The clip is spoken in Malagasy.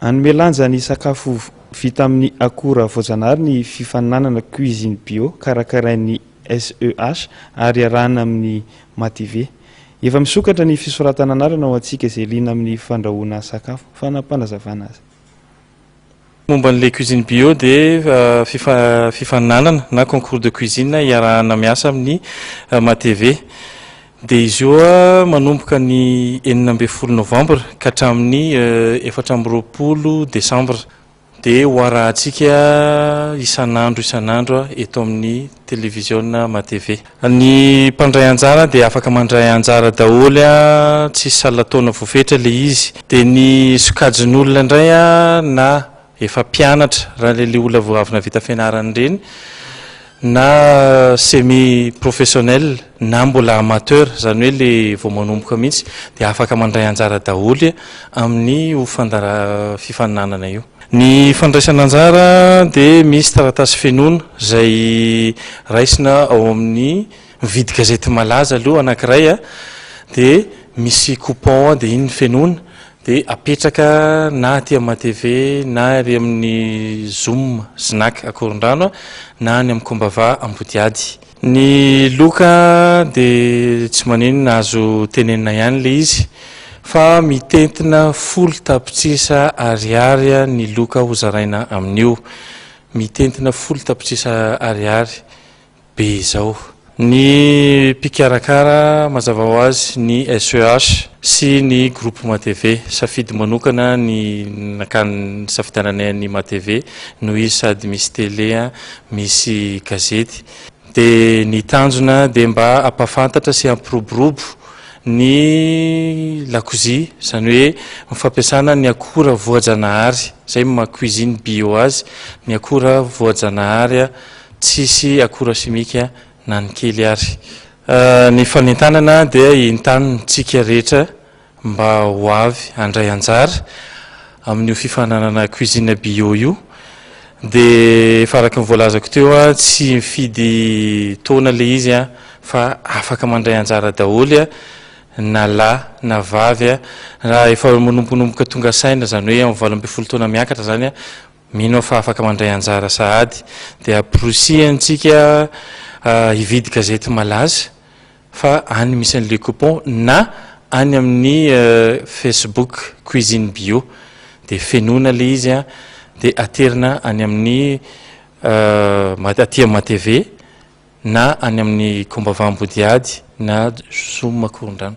Hanome lanja ny sakafo vita amin'ny akora voajanahary ny fifaninanana Cuisine Bio karakarain'ny SEH ary iarahana amin'ny MATV. Efa misokatra ny fisoratana anarana ho antsika izay liana amin'ny fandrahoana sakafo. Fanapanazavana azy. Momba an'ilay Cuisine Bio dia fifaninanana na concours de cuisine iarahana miasa amin'ny MATV. Dia izy io manomboka ny enina ambin'ny folo novambra ka hatramin'ny efatra amby roapolo desambra. Dia ho arahantsika isan'andro isan'andro eto amin'ny televiziona matv. Ny mpandray anjara dia afaka mandray anjara daholo, tsisy salan-taona voafetra ilay izy. Dia ny sokajin'olona indray na Efa mpianatra ralelihola vao avy navita fianarana ireny na semi professionnel na mbola amateur, izany hoe ilay vao manomboka mihitsy dia afaka mandray anjara daholo amin'io fifaninanana io. Ny fandraisana anjara dia misy taratasy fenoina izay raisina ao amin'ny mividy gazety malaza aloha anankiray dia misy coupon dia iny no fenoina Dia apetraka na aty amin'ny ATV na ary amin'ny Zoom Snack Akorondrano na any amin'ny Kombava Ambodiady. Ny loka dia tsy maninona azo tenenina ihany ilay izy fa mitentina folo tapitrisa ariary ny loka hozaraina amin'io. Mitentina folo tapitrisa ariary. be izao. Ny mpikarakara mazava ho azy ny SEH sy ny groupe Matv. Safidy manokana ny nakany nisafidiananay an'i Matv noho izy sady misy tele misy gazety dia ny tanjona dia mba hampahafantatra sy hampiroborobo ny lakozia izany hoe ny fampiasana ny akora voajanahary izay maha cuisine bio azy ny akora voajanahary Tsisy akora simika na ny kely ary. Ny fanentanana dia entanintsika rehetra mba ho avy handray anjara amin'io fifaninanana cuisine bio io dia efa araka ny voalazako teo tsy mifidy taona ilay izy fa afaka mandray anjara daholo na lahy na vavy raha efa manombonomboka tonga saina izany hoe amin'ny valo ambin'ny folo taona miakatra izany Mino aho fa afaka mandray anjara sahady dia amporisihantsika hividy gazety malaza fa any misy an'i Le Coupon na any amin'ny Facebook Cuisine Bio dia fenoina ilay izy an dia aterina any amin'ny aty amin'ny matv na any amin'ny Kombava Ambodihady na Zoom Makorondrano.